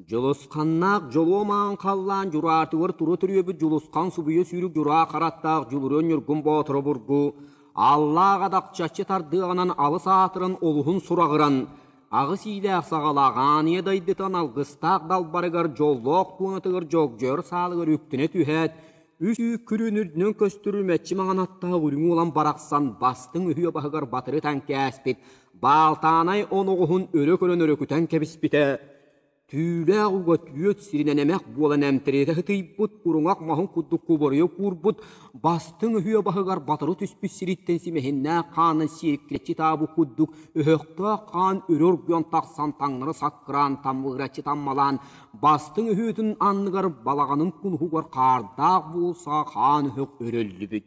Дьулусханнаах дьолуомаҕын халлаан дьураатыгар тура төрүөбүт Дьулусхан субуйа сүүрүк дьураа хараттаах Дьулуруон Ньургун Боотур обургу Аллаах-Адахчаччы тардыаҕынан алыс аатыран олуһун сураҕыран аҕыс иилээх саҕалаах ааныйа дайдытан алгыстаах далбарыгар дьоллоох пуунатыгар дьогдьойор саалыгар үктэнэ түһээт Үс үүк күрүөн үрдүнэн көстөрү мэччи маҥан аттаах үрүҥ уолан барахсан бастыҥ үһүө баһыгар батыры таҥкээспит Баалтаанай оноҕоһун өрө көрөн өрөкүтэн кэбиспитэ, түүлээх уга түөрт сиринэн эмэх буолан эмтириэтэ сытыйбыт куруҥах маһын курдук куборуйа куурбут бастыҥ үһүө баһыгар батыры түспүт сириттэн симэһиннээх хаанын сиэркилэччи таабы курдук өһөхтөөх хаан өрө оргуйан тахсан таҥнары саккыраан таммыыраччы таммалаан Бастыҥ өһүөтүн анныгар балаҕанын кулуһугар хаардаах буулсаҕа хаан өһөх өрөллүбүт.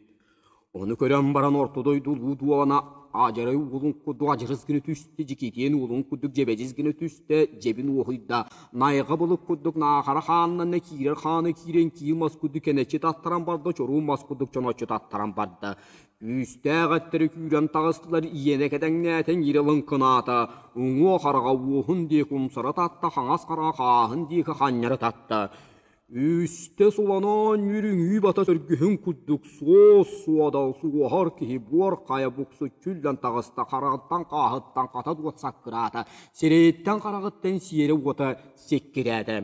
Ону көрөн баран орто дойду улуу дуолана адьарай уолун курдук адьырыс гына түсте, дьикитиэн уолун курдук дьэбэдьис гына түсте, дьэбин уоһуйда. Найҕа былыт курдук наахара хааннанна киирэр хаана киирэн киил мас курдук кэнэччи таттаран барда, чоруу мас курдук чоноччу таттаран барда. Күүстээх эттэри күүрэн таҕыстылар, иэнэ кэдэҥнээтин ирэ лыҥкынаата, уҥуо хараҕа уоһун диэки умсара татта, хаҥас хараҕа хааһын диэки ханньара татта. Үстэ суланаан үрүҥүү бата сөргүһүн курдук суос-суодал суоһар киһи буор хайа буксу чүллэн таҕыста, хараҕыттан хааһыттан хата дуот саккыраата, сирэйиттэн хараҕыттан сиэрэ-уота сиккирээтэ.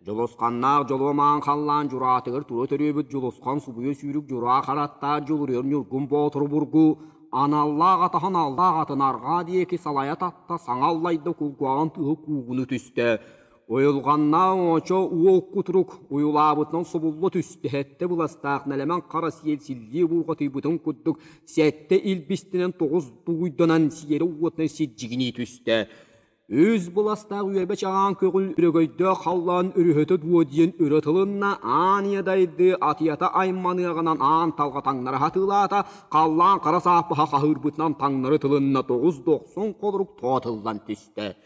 Дьулусханнаах дьолуомаан халлаан дьураатыгар тура төрүөбүт Дьулусхан субуйа сүүрүк дьураа хараттаах дьулуруйар Ньургун Боотуру бургу аналлаах атаһын аллаах атын арҕаа диэки салайа татта саҥа аллайда кулгуаҕын тыһы куугуну түстэ. Уйулҕаннаах оочо уол кутурук уйулаабытынан субулла түстэ сэттэ быластаах нэлэмэн хара сиэл силлии булҕатыйбытын курдук сэттэ илбистинэн тоҕус дугуйданан сиэрэ уотунан сирдьигинии түстэ. Үс быластаах үөрбэч аҕаан көҕүл үрөгөйдөөх халлаан үрүһөтө дуо диэн өрө тылынна, аан ийэ дайды атыйата айманыаҕынан аан талҕа таҥнары хатыылаата, халлаан хара сааппаха хаһыырбытынан таҥнары тылынна тоҕус дохсун холорук тоотыллан түстэ.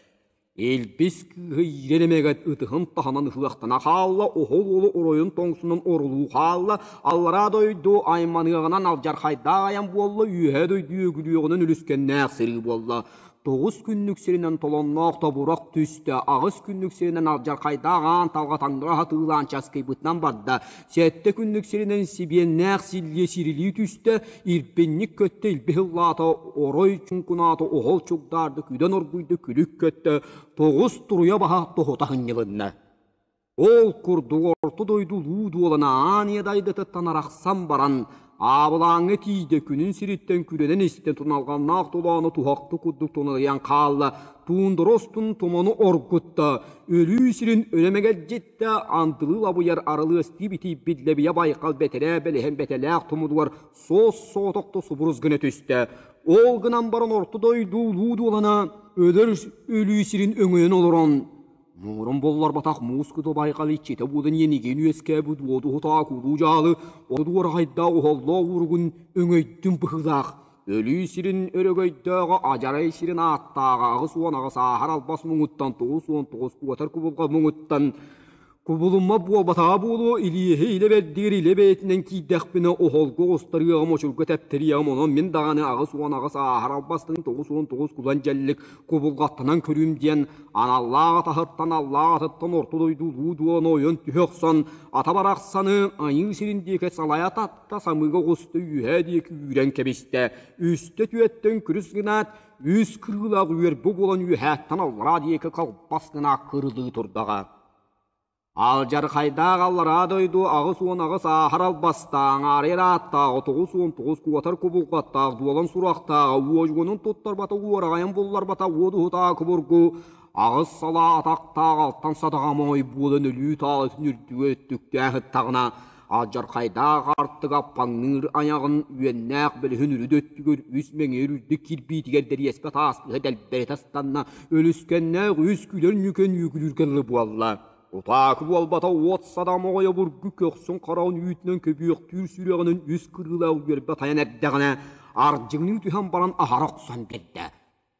Илбис кыыһы иирэн эмэгэт ытыһын таһынан ыһыахтана хаалла, оһол уолу оройун тоҥсунун орулуу хаалла, аллараа дойду айманыаҕынан алдьархайдаах айан буолла, үөһэ дойду үөгүлүөҕүнэн үлүскэннээх сырыы буолла. тоҕус күннүк сиринэн толонноох тобурук түстэ аҕыс күннүк сиринэн алдьархайдаах аан талга таҥнара сатыылаан часкыйбытынан барда сэттэ күннүк сиринэн сибиэннээх силлиэ сирилии түстэ ирпинник көттө илбиһ ыллаата орой чуҥкунаата оһол чугдаарды күдэн оргуйда күлүк көттө тоҕус туруйа баһа тоһута сынньылынна Ол курдук орто дойду улуу дуолана аан ийэ дайдатыттан арахсан баран, аабылааҥҥа тиийдэ күнүн сириттэн күрэнэн истэн туналҕаннаах тулаана туһахтык курдук тунарыйан хаалла, туундара устун туманы оргутта, өлүү сирин өлө мэгэлдьиттэ, андылыы лабыйар арылыастыы битийбит лэбийэ байкал бэтэрээ бэлэһин бэтэлээх тумудугар суос-соотокто субурус гына түстэ. Ол гынан баран орто дойду улуу дуолана өлөр өлүү сирин өҥөйөн олорон, Муҥуран боллорботох муускута байҕалыччыта буудан иэнигин үөскээбит уотуһутаа куруу-дьаалы одуорахайдаа уһоллоо уругун өҥөйдүм быһыылаах, өлүү сирин өрөгөйдөөҕө адьарай сирин ааттааҕа аҕыс уон аҕыс ааһар албас муҥуттан тоҕус уон тоҕус куотар кубулга муҥуттан кубулумма буолбатаҕа буолуо, илиэһи илэ бэрдигэр илэ бэйэтинэн киирдэхпинэ оһолго оҕустарыаҕым, очурга тэптэриэҕим, онон мин даҕаны аҕыс уон аҕыс ааһар албастын тоҕус уон тоҕус кулан дьэллик кубулҕаттанан көрүүм диэн аналлаах атаһыттан аллаах атыттан орто дойду улуу дуону ойон түһэ охсон ата барахсаны айыы сирин диэки салайа татта самыыга оҕуста үөһээ диэки үүрэн кэбистэ үстэ түөттөн күрүс гынаат үс кыылах үөр бу буолан үөһээттэн аллараа диэки халбас гына кырылыы турдаҕа Алдьархайдаах аллараа дойду аҕыс уон аҕыс ааһар албастааҕа, арыйар ааттааҕа, тоҕус уон тоҕус куотар кубулҕаттаах дуолан сурахтааҕа, уодьугунун туттарбата уораҕайын булларбата уодуһутааҕа кубургу, аҕыс салаа атахтаах алтан садаҕа моой буолан өлүү таалытын үрдүгэ өттүктээх ыттаҕына, алдьархайдаах Аартык Аппаҥныыр айаҕын үөннээх бөлүһүн үрүдэ өттүгэр үс мэҥиэр үрдүк кирбиитигэр дэриэскэ таастыһа дэлбэритэ астанна, өлүскэннээх үс күлэр ньүкэн ньүкүлүүргэ дылы буолла. Утаакы буолбата уот садам оҕойо бургу көхсүн хараҕын үүтүнэн көбүөхтүүр сүрэҕинэн үс кырыылаах үөрбэ тайан эрдэҕинэ, ардьыгыныы түһэн баран аһара охсон биэрдэ.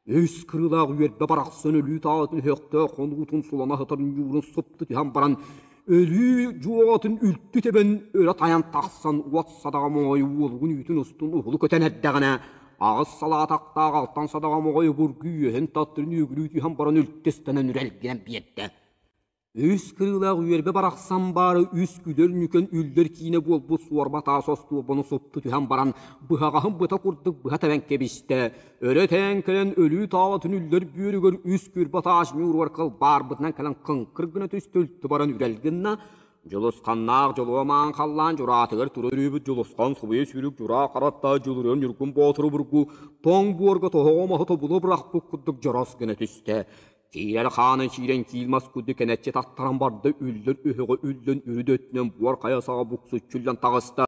Өс кырыылаах үөрбэ барахсан өлүүт аатын өһөхтөөх хонуутун сулана сытар ньуурун супту түһэн баран, өлүү дьуоҕатын үлтү тэбэн өрө тайан тахсан уот садаҕа моҕой уолугун үүтүн устун уһулу көтөн эрдэҕинэ, аҕыс салаатахтаах алтан садаҕа моҕой обургу үөһин таттырын үөгүлүү түһэн баран үлтү ыстанан үрэлгинэн биэрдэ. Үс кырыылаах үөрбэ барахсан баара үс күдэр нүкэн үллэр киинэ буолбут суорба таас остуолбаны суппу түһэн баран быһаҕаһын быта курдук быһа тэбэн кэбистэ. Өрө тээн кэлэн өлүү таалатын үллэр бүөрүгэр үс күрбэ таас ньууругар кылбаарбытынан кэлэн кыҥкыр гына түстэ үлтү баран үрэл гынна. Дьулусханнаах дьолуомаан халлаан дьураатыгар тура өрүүбүт Дьулусхан субуйа сүрүк дьураа хараттаа дьулуруон ньургун боотуру бургу тоҥ буорга тоһоҕо маһы тобула бырахпыт курдук дьорос гына түстэ. Киирэр хаанын сиирэн киил мас курдук кэнэччи таттаран барда, үллүр үһүҕү үллүн үрүдү өттүнэн буор хайа саҕа буксуччуллан таҕыста.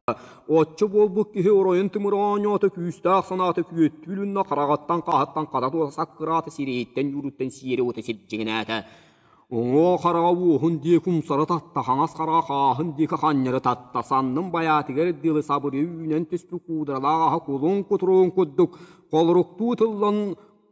Оччо буолбут киһи оройун тымыр оонньоото күүстээх санаата күөттүү үлүннэ, хараҕыттан хааһыттан хата туота саккыраата, сирэйиттэн ньууруттан сиэри ута сирдьиҥнээтэ. Уҥуо хараҕа уоһун диэки умсара татта, хаҥас хараҕа хааһын диэки ханньары татта, санным байаатыгар дылы сабырыы үүнэн түспүт куударалаах аһа кулун кутуруун курдук холоруктуу тыллан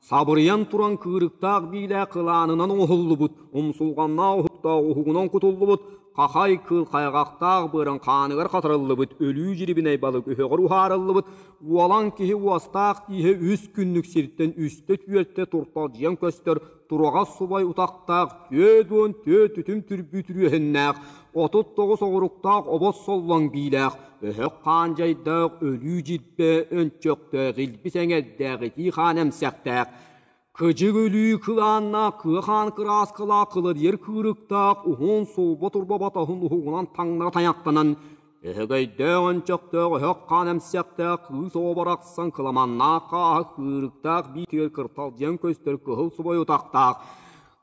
Сабырыйан туран кыырыктаах биилээх кылаанынан оҥоһуллубут, умсулҕаннаах оһуктаах уһугунан кутуллубут, хахай кыыл хайҕахтаах быарын хааныгар хатарыллыбыт өлүү дьирибинэй балык өһөҕөр уһаарыллыбыт уолан киһи уостаах ииһэ үс күннүк сиртэн үстэ-түөртэ турталдьыйан көстөр тураҕас субай утахтаах түөрт уон төрт үтүм түрбүү түрүөһүннээх, отут тоҕус оҕуруктаах обос соллоҥ биилээх, Бөһөх хаан дьайдаах өлүү дьирбэ өнчөхтөөх илбис эҥэрдээх итии хаан эмсэхтээх кыдьык өлүү кылааннаах кыа хаан кырааскалаах кыладыйар кыырыктаах уһун сулба турбабатаһын уһугунан таҥнара тайахтанан өһөгөйдөөх өнчөхтөөх өһөх хаан эмсэхтээх кыыс оо барахсан кыламаннаах хааһа кыырыктаах биитигэр кырталдьыйан көстөр кыһыл субай утахтаах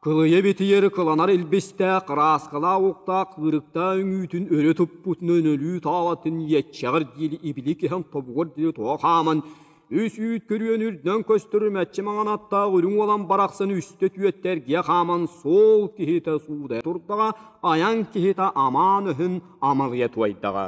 Кылыйа битийэр кыланар илбистээх кырааскалаах уктаах ыырыктаах үҥүүтүн өрө туппут нөнөлүү таалатын иэччэҕэр диэри ибилик иһэн тобугар диэри тоҕо хааман, үс үүт көрүөн үрдүнэн көстөр мэччи маҥанаттаах үрүҥ уолан барахсан үстэ түөттэргэ хааман суол киһитэ суудайа турдаҕа, айаҥ киһитэ амаан ыһын амалыйа туойдаҕа.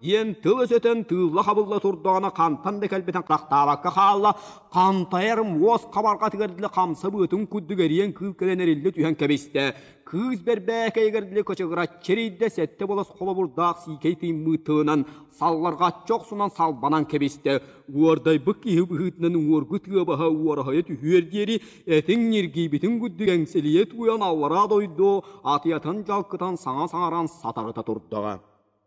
диэн тыл өсөтөн тыылла-хабылла турдаҕына хантан да кэлбитин харахтаабакка хаалла, хантайар муос хабарҕатыгар дылы хамса быатын курдук эриэн кыыл кэлэн эриллэ түһэн кэбистэ. Кыыс бэрбээкэйигэр дылы кычыгыраччы эрийдэ сэттэ болос холобурдаах сиикэй тыыммыт тылынан салларҕаччы охсунан салбанан кэбистэ. Уордайбыт киһи быһыытынан уоргу тыа баһа уораһайа түһүөр диэри этиҥ ньиргийбитин курдук эҥсэлийэ туйан аллараа дойду атыйатын дьалкытан саҥа саҥаран сатарыта турдаҕа.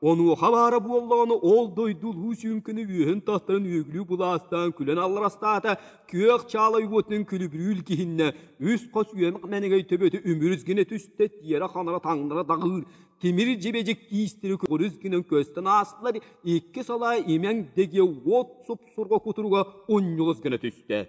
Онуоха баара буоллаҕына ол дойду улуу сүҥкүнү үөһүн тастарын үөгүлүү былаастаан күлэн алларастаата, күөх чаала уотунан күлүбүрүүл киһиннэ, үс хос үөмэх мэнэгэй төбөтө үмүрүс гына түстэ, тиэрэ-ханара таҥнара даҕыыр, тимир дьэбэдьик тиистири курус гынан көстөн аастылар, икки салаа имэҥ дэгэ уот суп-сурга кутуруга унньулус гына түстэ.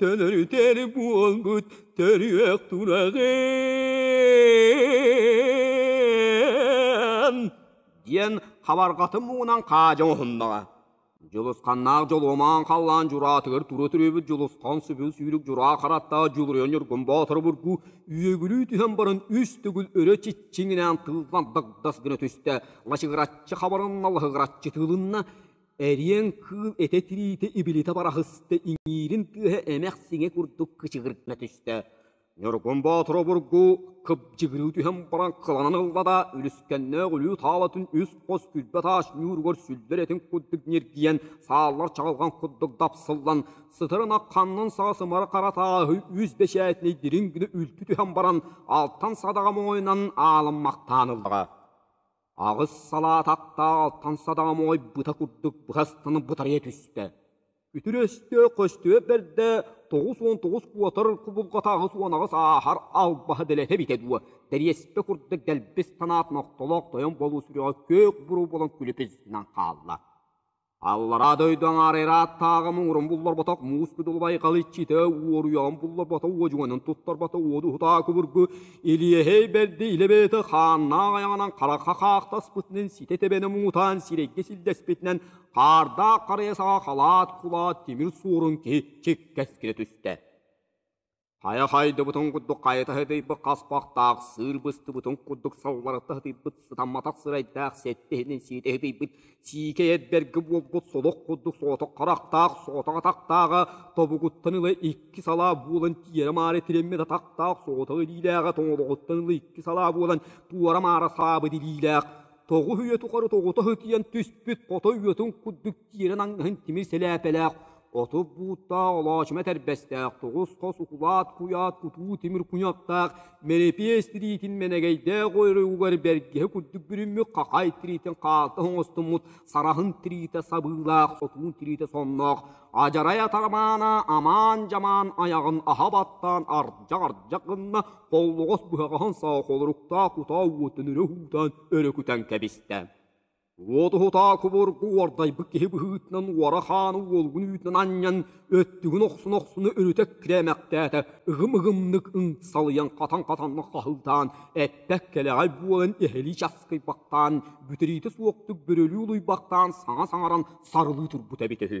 Төлөрүтэр буолбут төрүөх тураҕын диэн хабарҕатын муҥунан хаадьан уһуннаҕа. Дьулусханнаах дьолуомаан халлаан дьураатыгар тура түрүбүт Дьулусхан сүбүл сүүрүк дьураа хараттаах Дьулуруйан Ньургун Боотурбургу үөгүлүү түһэн баран үс төгүл өрө чиччиҥинээн тыыллан дагдас гына түстэ, лачыгыраччы хабарынна, лаһыгыраччы тыылынна, Эриэн кыыл этэ тириитэ ибилитэ бараһыста иҥиирин тыаһа эмэх-сиҥэ курдук кычыгырытына түстэ. Ньургун Боотур обургу кыбдьыгырыы түһэн баран кыланан ылла да, үлүскэннээх улүү таалатын үс-хос күлбэ таас ньууругар сүллэр этин курдук ньиргийэн, сааллар чаҕылҕан курдук дапсыллан, сытырына ханнын саас ымары хара тааһы үс бэчээтинэй дириҥ гына үлтү түһэн баран, алтан садаҕа моойунан аалыммахтаан ыллаҕа. аҕыс салаат аттаах алтан садаҕа моҕой быта курдук быһа астана бытарыйа түстэ. Үтүрүөстэ-көстүө бэрдэ тоҕус уон тоҕус куотар кубулҕатааҕы суонаҕыс ааһар албаһа дэлэтэ эбитэ дуо, тэриэспэ курдук дэлбис санаат нохтолоох тойон болуу сүрэҕэ күөх буруу болон күлүпүзүнэн хаалла. Аллараа дойду аҥаарыйара аттааҕы муҥурун булларбатах муус кыдылбай халыччыта уоруйаҕын булларбата уодьуганын туттарбата уодуһутаа кубургу Илиэһэй бэрдэ илэбэйэтэ хааннаах айаҕынан харахха хаахтаспытынан ситэ тэбэнэ муҥутаан сирэйгэ силдэспитинэн хаардаах харыйа саҕа халаат кулаат тимир суорун киһи чиккэскилэ түстэ. Хайа хайдыбытын курдук хайыта хытыйбыт хаспахтаах, сыыр быстыбытын курдук салларата хытыйбыт, сытамматах сирэйдээх, сэттэ иһинин сиитэ хытыйбыт, сиикэй эдэргэ буолбут содох курдук соотох харахтаах, соотох атахтааҕа, тобугуттан ыла икки салаа буолан тиэрэ-маары тириммит атахтаах, соотох илиилээҕэ тоҥолоҕуттан ыла икки салаа буолан туора-маара саабыт илиилээх, тоҕу үйэ тухары тоҕута хытыйан түспүт хото үйэтин курдук тиэрэ наҥгаһын тимир сэлээпэлээх, отут бууттаах олоочума этэрбэстээх, тоҕус хос укулаат куйаат кутуу тимир куньаптаах, мэлэпиэс тириитин мэнэгэйдээх ойоругугар бэргэһэ курдук бүрүммүт хахай тириитин хаалта оҥостуммут сараһын тириитэ сабыылаах, сотуун тириитэ сонноох, адьарай атармаана амаан-дьамаан айаҕын аһа баттаан ардьак-ардьак гынна, холлоҕос быһаҕаһын саахолоруктаах кутаа уоттан өрө уутаан өрө кутан кэбистэ. Уотуһутаа кубургу уордайбыт киһи быһыытынан уора хааны уолугун үүтүнэн анньан, өттүгүн охсуна-охсуна өрүтэ кирэмэхтээтэ, ыгым-ыгымнык ымсалыйан хатан-хатанна хаһыытаан, эппэк кэлэҕэй буолан эһэлии часкыйбахтаан, бүтэриитэ суохтук бөрөлүү улуйбахтаан саҥа саҥаран сарылыы турбута эбитэ үһү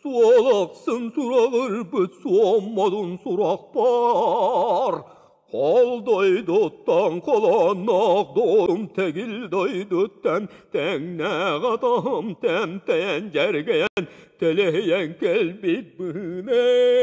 Суол ахсын сураҕырбыт суоммалын сурахпар Хал дойдуттан халаннаах доҕорум тэгил дойдуттан тэҥнээх атаҕым тэмтэйэн дьэргэйэн тэлэһийэн кэлбит быһыынээн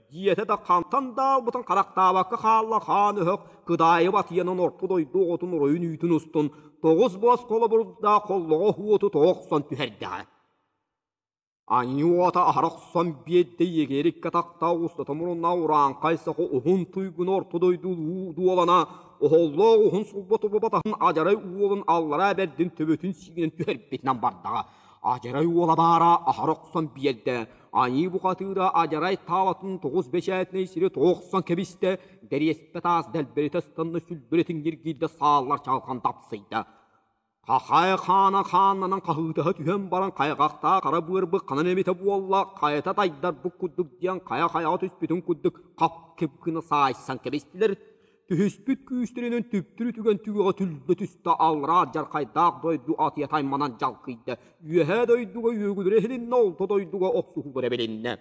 Дьиэтэ да хантан да аалбытын харахтаабакка хаалла хаан өһөх кыдаайы батыйанан орто дойду оҕотун оройун үүтүн устун тоҕус буос холобурдаах холлоҕо уоту тоҕо охсон түһэрдэҕэ. Аньыы уота аһара охсон биэрдэ иэгээриккэ тахта устата мурунна урааҥхай саҕа уһун туйгуна орто дойду уу дуолана оһоллоох уһун сулбат убатаһын адьарай уолун аллараа бэрдин төбөтүн сиинэн түһэрбитинэн бардаҕа. Адьарай уола баара аһара охсон биэрдэ Айыы бухатыыра адьарай таалатын тоҕус бэчээтинэй сири тоҕохсон кэбистэ, дэриэспэ таас дэлбэритэ ыстанна сүлбэритин киргиирдэ сааллар чалхан тапсыйда. Хахай хаана хааннанан хаһыытаһа түһэн баран хайҕахтаа хара быарбык ханан эмитэ буолла, хайата тайдар бу курдук диэн хайа-хайаҕа түспүтүн курдук хап кып гына саайсан кэбистилэр. Түһүспүт күүстэринэн түптүрү түгэн түгэҕэ түллэ түстэ аллараа дьархайдаах дойду атыйа тайманан дьалкыйда. Үөһээ дойдуга үөгүлэрэ иһилиннэ, орто дойдуга охсуһуулара билиннэ.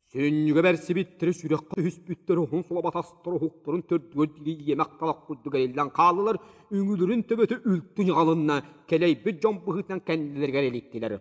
Сүнньүгэ бэрсибиттэрэ сүрэххэ түһүспүттэр уһун сулабатастар уһуктарын төрдүгэр дири иэмэх талах курдук эриллэн хааллылар, үҥүлэрин төбөтө үлтү ньаҕалынна, кэлэйбит дьон быһыытынан кэннилэригэр иликтилэр.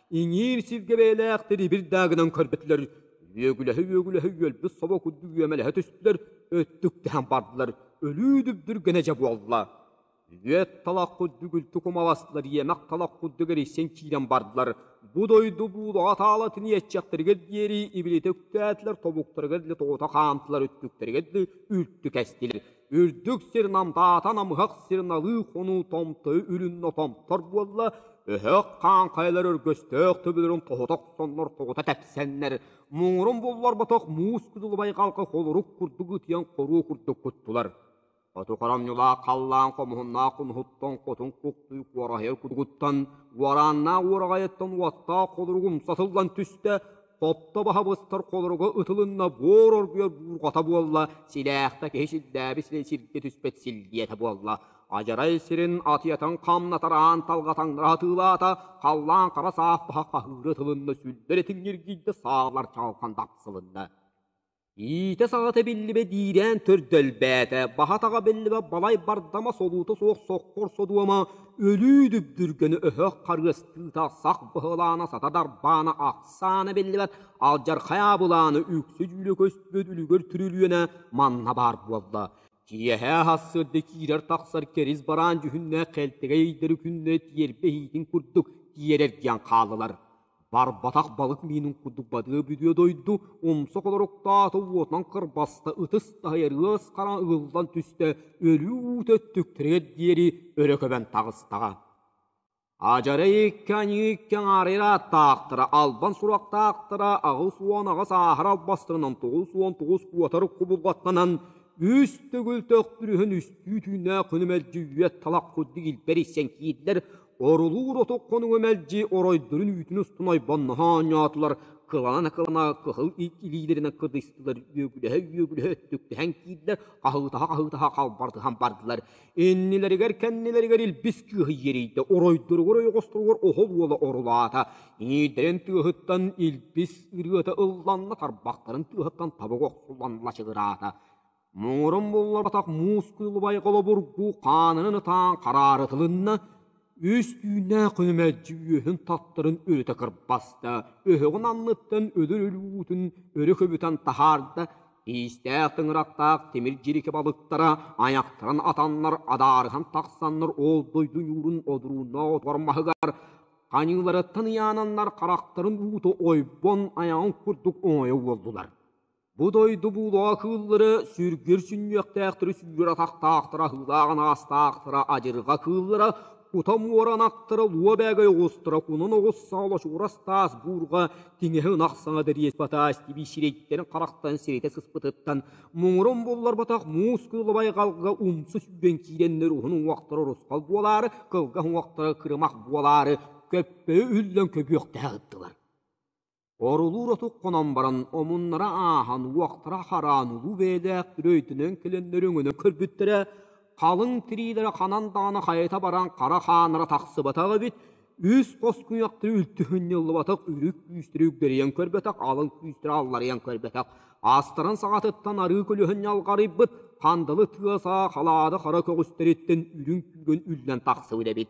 иҥиир сиргэ бэйэлээхтэр ибир даа гынан көрбөтүлэр, үөгүлэһи-үөгүлэһи үөлбүт собо курдук үөмэлэһэ түстүлэр, өттүктэһэн бардылар, өлүү дүбдүргэнэ дьэ буолла. Үөт талах курдук үлтү кумаластылар, иэмэх талах курдук эрийсэн киирэн бардылар. Бу дойду буулаҕа таалатын иэччэхтэригэр диэри ибилитэ үктээтилэр, тобуктарыгар дылы тоҕута хаамтылар, үттүктэригэр дылы үлтү кэстилэр. үрдүк сир намдаата намыһах сир налыы хонуу томтойу үлүннэ томтор буолла өһөх хаан хайалар өргөстөөх төбөлөрүн тоһута охсоннор тоҕута тэпсэннэр муҥурун булларбатах муус кудулубай халка холорук курдук ытыйан хоруу курдук куттулар оту харамньылаах халлаан хомуһуннаах кунуһуттан хотун куктуй куораһыйар кудугуттан уорааннаах уораҕайыттан уоттаах холорук умса сыллан түстэ Тотто баһа быстар холоруга ытылынна буор оргуйар буурҕата буолла, силээхтэ киһи сирдээбит сирэ сиргэ түспэт силбиэтэ буолла. Адьарай сирин атыйатын хамнатар аан талҕатаннара атыылаата, халлаан хара саас баһа хаһыыра ытылынна, сүллэр этиҥниргийдэ, саалар чалҕан тахсылынна. иитэ-саҕата биллибэ диирээн төрдөлбөөтө, баһа-таҕа биллибэ балай бардама солуута суох соххор содуома, өлүү дүбдүргөнү өһөх харыастыыта сах быһылаана сата дарбаана ахсаана биллибэт алдьархай аабылааны үксэ дьүүлэ көспүт үлүгэр түрүлүөнэ манна баар буолла. Киэһэ аһассырды киирэр-тахсар кэрис бараан дьүһүннээх хэлтэгэй ыйдары күннэ тиэрбэ иһиитин курдук тиэрэргиэн хааллылар. Барбатах балык миинин курдук бадыа бүдүө дойду умса холоруктаата уотунан кырбаста ытыс таһыйар ыас хара ылыллан түстэ өлүү уу төттүктэригэр диэри өрө көбөн таҕыстаҕа адьара икки аньыы икки аҥаарыйар ааттаахтара албан суруктаахтара аҕыс уон аҕыс ааһар албастарынан тоҕус уон тоҕус куотар кубулҕаттанан үс төгүл төхтүрүһүн үстүү түүннээх күнү мэлдьи үйэ талах курдук илбэр иссэн киирдэр орулуур отук хонугу мэлдьи оройдорун үүтүн устун ойбонноһо оонньоотулар кылана-кылана кыһыл ит илиилэринэн кыдыстылар үөгүлэһэ-үөгүлэһэ өттүктэһэн киирдэр хаһыытаһа-хаһыытаһа халбартыһан бардылар иннилэригэр-кэннилэригэр илбис кыыһы иэрийдэ оройдоругар ойоҕосторугар оһол уола орулаата иҥиирдэрин тыаһыттан илбис ырыата ылланна тарбахтарын тыаһыттан табыга охсуллан лачыгыраата муҥурун булларбатах мускулубай холобургу хаанынан ытаан хараарытылынна, үс түүннээх күнү мэлдьи үөһүн-таттарын өрүтэ кырбаста, өһөҕүн анныттан өлөр өлүүтүн өрө көбүтэн таһаарда, иистээх тыҥырахтаах тимир дьирикэ балыктара айахтарын атаннар адаарыһан тахсаннар ол дойду ньуурун одурууннаах отугар маһыгар ханьыыларыттан ыйаананнар харахтарын уута ойбон айаҕын курдук оҥойо уоллулар. Бу дойду буулаҕа кыыллары сүргүр сүнньүөхтээхтэрэ сүнньүр атахтаахтара аһыылааҕын аастаахтара адьырҕа кыыллара кута муоран аттара луо бээгэй оҕустара кунун оҕус саала чугурас таас буурҕа тиҥэһи ынах саҥа дэриэс батаас тибии сирэйдэрин харахтан сиритэ сыспытыттан муҥурун булларбатах муус кыылабай галга умсу сүгэн киирэннэр уһун уҥуохтара урусхал буолаары кылгас уҥуохтара кырымах буолаары көппөйү үллэн көбүөхтэһэ ыттылар Орулуур отук хонон баран, омуннара ааһан, уохтара хараан улуу бэйэлээх үрөйтөнөн кэлэннэр өҥөнө көрбүттэрэ, халыҥ тириилэрэ ханан даҕаны хайыта баран хара хаанара тахсыбатах эбит, үс хос куйахтары үлтүһүнньуллубатах үрүк күүстэрэ үгдэрийэн көрбөтөх, алын күүстэрэ алларыйан көрбөтөх, аастарын саҕатыттан арыы көлүһүн ньалҕарыйбыт, хандалы тыа саа халаада хара көҕүстэриттэн үрүҥ күүргүн үллэн тахсыбыт эбит.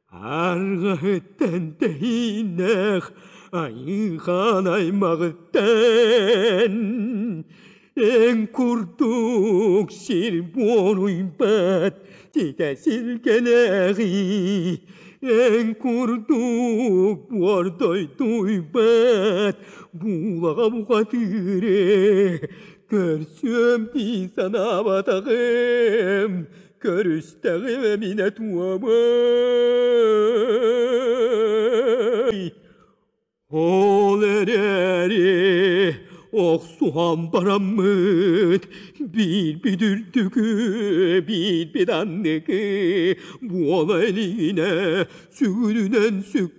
Аргыһыттан тэһииннээх айыылаах аймаҕыттан эн курдук сир буоруйбат ситэ силгэлээҕий эн курдук буор дойдуйбат буулаҕа бухатыыр ээ көрсүөм дии санаабатаҕым Көрүстэҕим эминэ туомай Ол эрээри охсуһан бараммыт биирбит үрдүкү биирбит анныкы буола илигинэ сүгүрүнэн сүк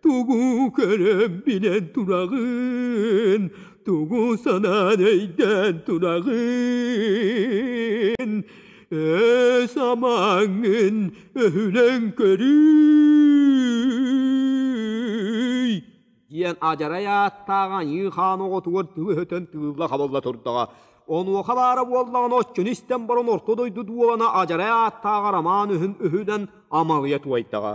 Тугу көрөн билэн тураҕын, тугу санаан өйдөөн тураҕын, өс амаҥын өһүлэн көрүй. диэн адьарай ааттаах аньыы хаан оҕотугар тыыһытын тыылла хабылла турдаҕа. Онуоха баара буоллаҕына оччону истэн баран орто дойду дуолана адьарай ааттааҕар амаан үһүн үһүнэн амалыйа туойдаҕа.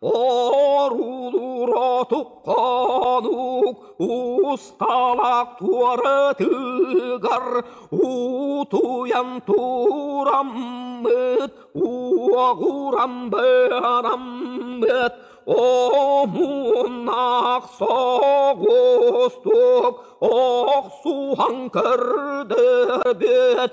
Оруулууротук хонуук усталаах туоратыгар утуйан тураммыт уоҕурамбыараммыт омуннаах соҕустук охсуһан көрдөрбүт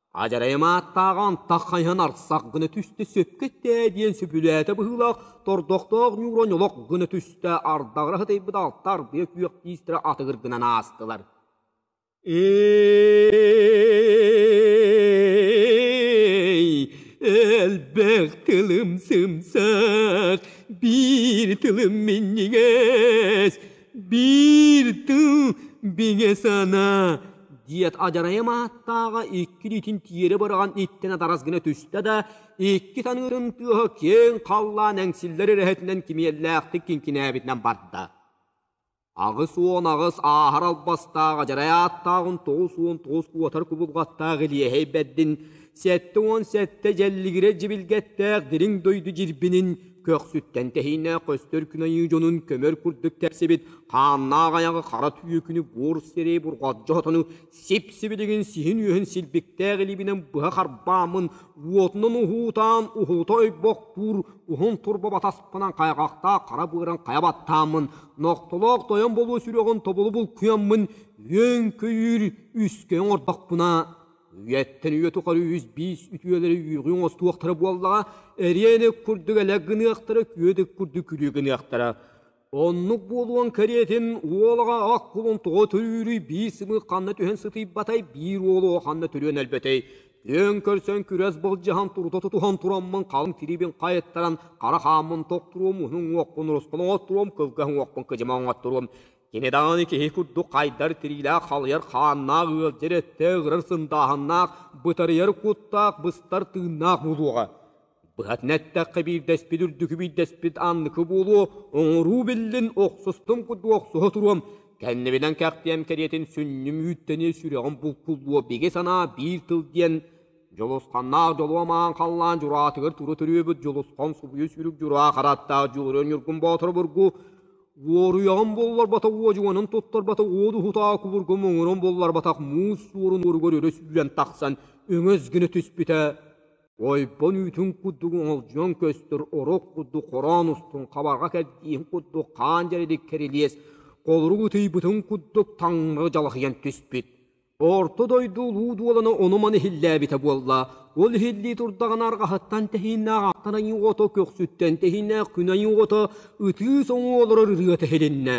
Адьарайым ааттааҕа антах хайыһан арсах гына түстэ сөпкө-тээ диэн сөбүлээтэ быһыылаах тордохтоох Ньууран олох гына түстэ ардаҕыра сытыйбыт алта ардыйа күөх тиистэрэ атыгыр гынан аастылар Эй, элбэх тылым сымсах, биир тылым минньигэс Биир тыл бигэ санаа диэт адьарайым ааттааҕа икки илиитин тиэрэ быраҕан иттэн атарас гына түстэ да икки таныырым тыаһа киэҥ халлаан эҥсиллэр эрэһэтинэн кимиэллээхтик кинкинээбитинэн барда. Аҕыс уон аҕыс ааһар албастаах адьарай ааттааҕын тоҕус уон тоҕус уотар кубулҕаттаах Илиэһэй бэрдин Сэттэ уон сэттэ дьэллигирэ дьибилгэттээх дириҥ дойду дьирбинин көхсүттэн тэһиинэ көстөр күн айыы дьонун көмөр курдук тэпсибит хааннаах айаҕа хара түөкүнү буор сэрии бурҕалдьа отону сип-сибилигин сиһин-үөһүн силбиктээх илиибинэн быһа харбааммын уотунан уһуутаан уһуута ойбохтуур уһун турба батаспынан хайҕахтаах хара быаран хайа баттааммын нохтолоох тойон болуо сүрэҕин тобулу булкуйаммын өҥкөйүүр үскэйин ордохпуна Үйэттэн үйэ тухары үс биис үтүөлэри үүрҕүҥ остуохтара буоллаҕа, эриэни курдук элэ гыныахтара, күөдүк курдук күлүү гыныахтара. Оннук буолуон кэриэтин уолаҕа ах кулун тоҕо төрүүрүй биир сымыы ханна түһэн сытыйбатай, биир уолу ханна төрүөн өлбөтөй. Түөн көрсөн күрэс былдьаһан турута тутуһан тураммын халыҥ тирибин хайыттаран хара хааммын токтуруом, уһун уохпун ороскон оҥотторуом, кылгас уохпун кыдьыма оҥотторуом. Кини даҕаны киһи курдук хайдар тириилээх халыйар хааннаах ыалдьар өттө ыгырар сындааһыннаах, бытарыйар куттаах, быстар тыыннаах буолуоҕа. Быһатын эттэххэ, биирдэспит үрдүкү биирдэспит анныкы буолуо, оҥоруу биллин, охсустум курдук охсуһа туруом, кэннибинэн кэхтиэм кэриэтин сүнньүм үүттэниэ сүрэҕим булкуллуо, биги санаа биир тыл диэн Дьулусханнаах дьолуом аан халлаан дьураатыгар тура төрүөбүт Дьулусхан субуйа сүүрүк дьураа харааттаах Дьулуруон Ньургун Боотур бургу Уоруйаҕым булларбата уодьуганын туттарбата уот уһутаҕа кубургум оҥорон булларбатах муус суорун уоругар өрө сүүрэн тахсан өҥөс гына түспүтэ ойбон үүтүн курдук оҥолдьуйан көстөр орук курдук хороон устун хабарҕа кэрдиин курдук хаан дьэрэдик кэрилиэс холорук ытыйбытын курдук таҥнары дьалахыйан түспүт Орто дойду улуу дуолана ону-маны иһиллээбитэ буолла. Ол иһиллии турдаҕына арҕаһыттан тэһииннээх аттан айыы ото көхсүттэн тэһииннээх күн айыы ото ытыы соҥуу олорор ырыа тэһилиннэ.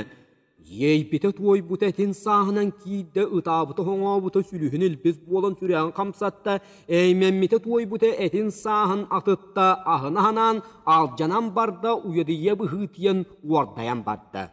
Иэйбитэ туойбута этин сааһынан киирдэ, ытаабыта-хоҥообута сүлүһүн илбис буолан сүрэҕин хамсатта, эймэммитэ туойбута этин сааһын атытта, аһына аһанаан алдьанан барда, уйадыйа быһыытыйан уордайан барда.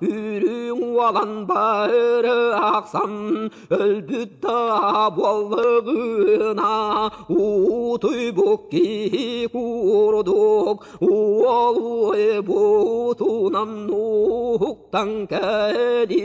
Үүрүүҥ уолан бары ахсан өлбүт да буоллыгына уутуй бу киһи курдук уолуй буутунан уһуктан кэлиэҕэҥ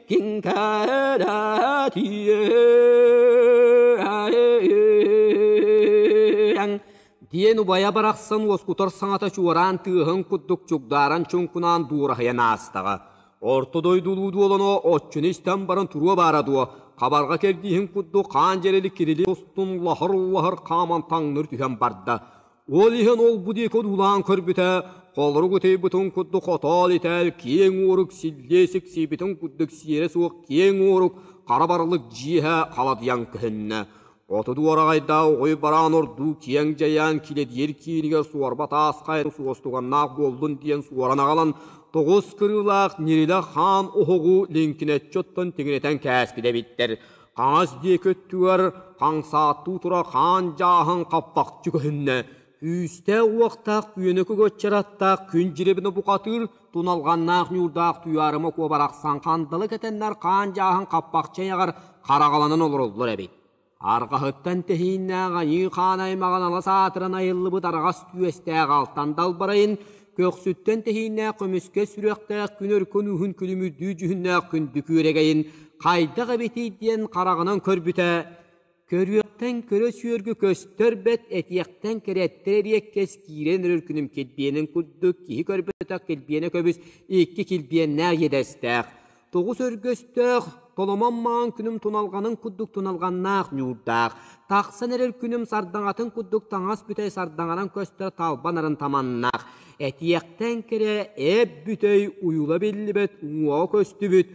диэн убайа барахсан уоскутар саҥата чуораан тыаһын курдук чугдааран чуҥкунаан дуораһыйан аастаҕа орто дойдулуу дуолано отчуну истэн баран туруо баара дуо хабарга кэрдииһин курдук хаан дьэрили кирили устун лаһыр лаһыр хааман таҥныр түһэн барда Ол иһин ол-бу диэки одуулаан көрбүтэ, холорук утуйбутун курдук отоол-итээл киэҥ уорук силлиэ сиксийбитин курдук сиэрэ суох киэҥ уорук хара барылык дьиэһэ халадыйан көһүннэ. Оту дуораҕайдаа угуй бараан ордуу киэҥ дьайаан килэдиэр киинигэр суорба таас хайа суостуганнаах буоллун диэн суоран аҕалан, тоҕус кырыылаах Нирилэ хаан оһоҕу лиҥкинэччи оттон тигинэтэн кээспитэ эбиттэр. хаҥас диэки өттүгэр хаҥсааттыы турар хаан дьааһын хаппахчы көһүннэ күүстээх-уохтаах күөнүкү коччараттаах күн дьирибинэ бухатыыр туналҕаннаах ньуурдаах туйаарыма куо барахсан хандалы кэтэннэр хаан дьааһын хаппахчы айаҕар хараҕаланан олороллор эбит арҕаһыттан тэһииннээх айыы хаан аймаҕын алас аатыран айыллыбыт араҕас түөстээх алтан далбарайын көхсүттэн тэһииннээх көмүскэ сүрэхтээх күнэр көнүүһүн күлүмүрдүү дьүһүннээх күндү күөрэгэйин хайдах эбитий диэн хараҕынан көрбүтэ көрүөхтэн көрө сүөргү көстөр бэт этиэхтэн кэрэттэр эриэккэс киирэн өрөр күнүм килбиэнин курдук киһи көрбөтөх килбиэнэ көбүс икки килбиэннээх иэдэстээх Тоҕус өргөстөөх, толомон маҥан күнүм туналҕанын курдук туналҕаннаах ньуурдаах, тахсан эрэр күнүм сардаҥатын курдук таҥас бүтэй сардаҥаран көстөр талба нарын таманнаах, этиэхтэн кэрэ эп бүтэй уйула биллибэт уҥуоҕа көстүбүт,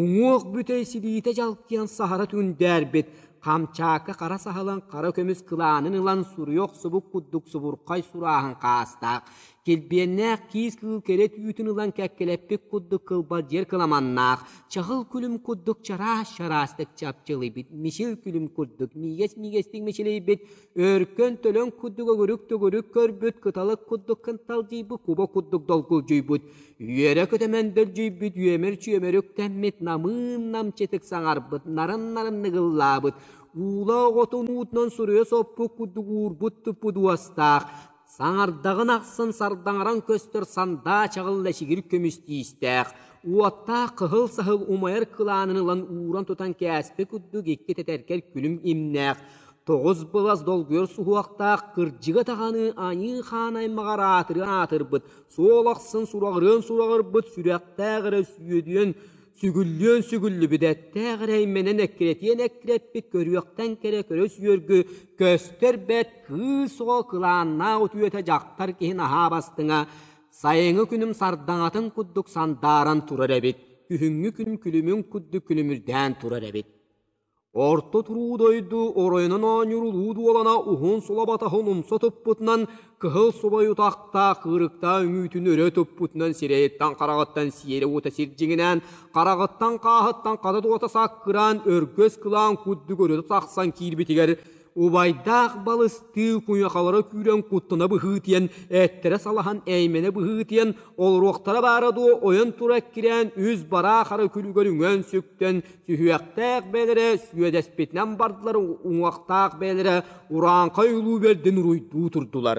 уҥуох бүтэй силиитэ дьалкыйан саһара түндээрбит, хамчаакка хара саһылын хара көмүс кылаанын ылан суруйа охсубут курдук субурхай сурааһын хаастаах, Килбиэннээх киис кыыл кэрэ түүтүн ылан кэккэлэппит курдук кылбалдьыйар кыламаннаах, чаһыл күлүм курдук чараас-чараастык чапчылыйбыт, мичил күлүм курдук миигэс-миигэстик мичилийбит, өркөн төлөн курдук өгүрүк-төгүрүк көрбүт, кыталык курдук кынталдьыйбыт, куба курдук долгулдьуйбут, үөрэ көтөмөн дөлдьүйбүт, үөмэр-чүөмэрүк тэммит, намыын намчытык саҥарбыт, нарын-нарын ныгыллаабыт, уула оҕотун уутунан суруйа соппут курдук уурбут туппут уостаах, Саҥардаҕын ахсын сардаҥаран көстөр сандаа чаҕыл лэчигир көмүс тиистээх, уоттаах кыһыл саһыл умайар кылаанын ылан ууран тутан кээспэ курдук икки тэтэркэл күлүм имнээх, тоҕус былас долгуйар суһуохтаах кырдьыга даҕаны аньыы хаан аймаҕар аатырыан аатырбыт, суол ахсын сураҕырыан сураҕырбыт сүрэхтээх эрэ сүөдүөн сүгүллүөн-сүгүллүбүт эттээх эрэймэнэн эккирэтиэн-эккирэппит көрүөхтэн кэрэ көрөс үөргү көстөр бэт кыыс оҕо кылааннаах утуйута дьахтар киһин аһаа бастыҥа сайыҥҥы күнүм сардаҥатын курдук сандааран турар эбит күһүҥҥү күн күлүмүн курдук күлүмүрдээн турар эбит Орто туруу дойду оройунан оонньуурулуу дуолана уһун сулабатаһын умса туппутунан кыһыл субай утахтаах кыырыктаах үҥүүтүн өрө туппутунан сирэйиттэн-хараҕыттан сиэрэ уута сирдьиҥинээн, хараҕыттан-хааһыттан хата-туота саккыраан өргөс кылаан курдук өрүтэ тахсан киирбитигэр убайдаах балыстыы куйахалара күүрэн куттана быһыытыйан эттэрэ салаһан эймэнэ быһыытыйан олоруохтара баара дуо ойон тура эккирээн үс бараахара күлүгэр үҥэн сүктэн сүһүөхтээх бэлэрэ сүөдэспитинэн бардылар уҥуохтаах бэлэрэ урааҥхай улуу бэрдин уруйдуу турдулар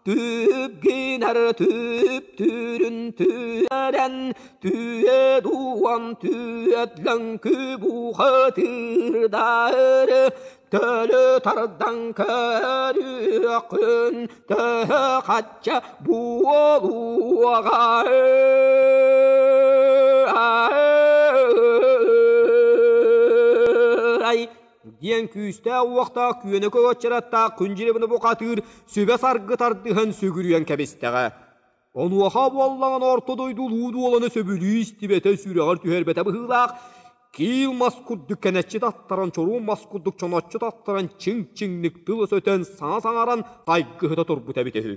Түп гинар түптүрүн түөрэн Түө дуон түөт лөҥкү бухатыырдар Төлө тардан көрүөххүн төһө хачча буолуоҕай диэн күүстээх-уохтаах күөнөкө уочараттаах күндьилибini бухатыыр сүбэ-саргы тардыһан сүгүрүйэн кэбистэҕэ. Онуоха буоллаҕына орто дойду улуу дуоланы сөбүлүү истибэтэ сүрэҕэр түһэрбэтэ быһыылаах, киил мас курдук кэнэччи таттаран, чоруун мас курдук чоноччу таттаран, чиҥ-чиҥник тылы сөтөн, саҥа саҥаран, тайгыһыта турбута эбитэ үһү.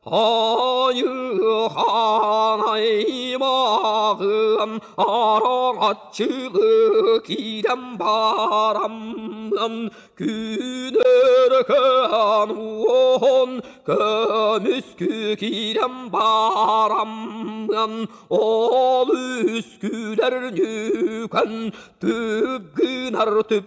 Айыхаан аймаҕым араҥаччылыы киирэн барам Күнэркээн уон көмүскү киирэн барам Ол үскүлэр ньүкэн түп гынар түп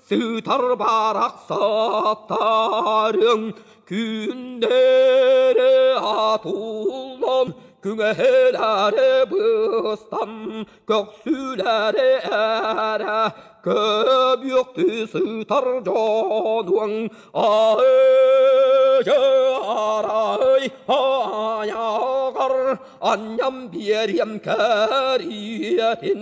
Сытар барахсаттарыҥ күннэри атууллан күҥэһэлэри быстан көхсүлэри эрэ көбүөхтүү сытар дьонуҥ аһыйы арай айаҕар анньан биэриэм кэриэтин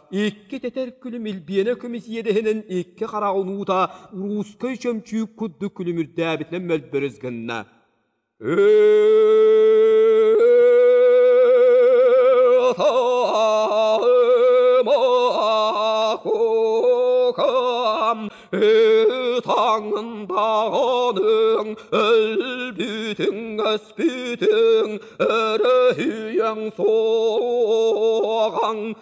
Икки тэтэр күлүм илбиэнэ көмүс иэдэһинэн икки хара унуута уруускай чөмчүүк курдук күлүмүрдээбитинэн мөлбөрүс гынна. Таңындаҕаның өлбүтүн өспүтүн өрөһүйэн соҕан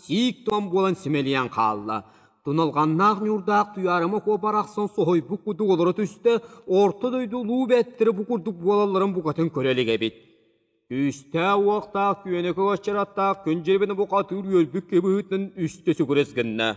сиик-туом буолан симэлийэн хаалла. Туналҕаннаах ньуурдаах Туйаарыма куоп арахсан соһуйбут курдук олоро түстэ, орто дойду улуу бэттэрэ бу курдук буолалларын букатын көрө илик эбит. Күүстээх-уохтаах күөнэкэ уочараттаах күн дьиэбинэ бука атыыр үөлбүт кыбыһыытынан үстэ сүгүрэс гынна.